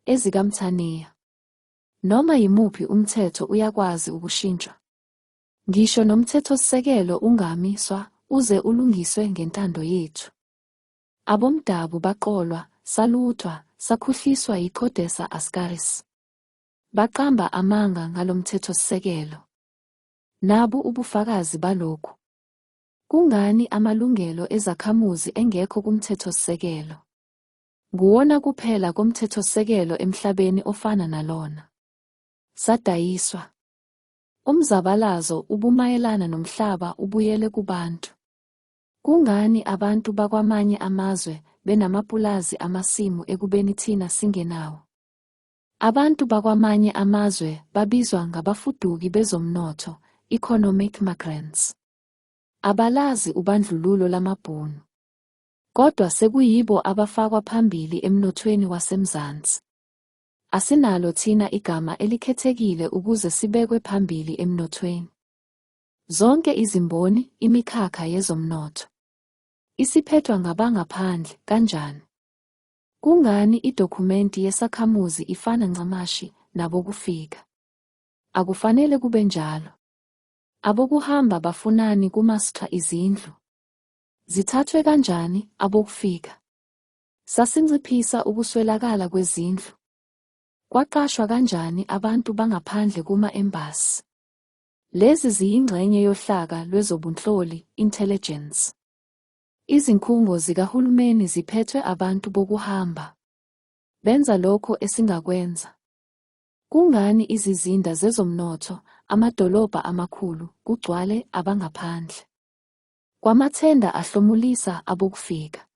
EzikaMthaniya. Noma yimuphi umthetho uyakwazi ukushintshwa. Ngisho nomthethosisekelo ungami swa uze ulungiswe ngentando yethu. Abomdabu baqolwa, saluthwa, sakhuhliswa yiCodesa Ascaris. Baqamba amanga ngalomthethosisekelo. Nabu ubufakazi balokhu. Kungani amalungelo ezakhamuzi engekho kumthethosisekelo? Nguwona kuphela komthethosisekelo emhlabeni ofana nalona. Sadayiswa. Umzabalazo ubumayelana nomhlaba ubuyele kubantu. Kungani abantu bakwamanye amazwe benamapulazi amasimu ekubeni thina singenawo? Abantu bakwamanye amazwe babizwa ngabafuduki bezomnotho, economic migrants. Abalazi ubandlululo lamabhunu. kodwa sekuyibo abafakwa phambili emnothweni waseMzansi. Asinalo thina igama elikhethekile ukuze sibekwe phambili emnothweni. Zonke izimboni, imikhakha yezomnotho isiphethwa ngabangaphandle. Kanjani? Kungani idokhumenti yesakhamuzi ifana ncamashi nabokufika? Akufanele kube njalo. Abokuhamba bafunani kumastra izindlu? Zithathwe kanjani abokufika? Sasinciphisa ukuswelakala kwezindlu? Kwaqashwa kanjani abantu bangaphandle kuma-embasi? Lezi ziyingxenye yohlaka lwezobunhloli, intelligence. Izinkhungo zikahulumeni ziphethwe abantu bokuhamba. Benza lokho esingakwenza. Kungani izizinda zezomnotho, amadolobha amakhulu, kugcwale abangaphandle? Kwamathenda ahlomulisa abokufika.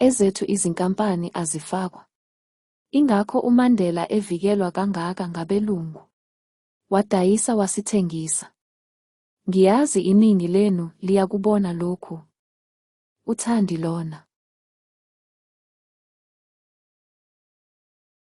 Ezethu izinkampani azifakwa. Ingakho uMandela evikelwa kangaka ngabelungu. Wadayisa wasithengisa. Ngiyazi iningi lenu liyakubona lokhu. UThandi lona.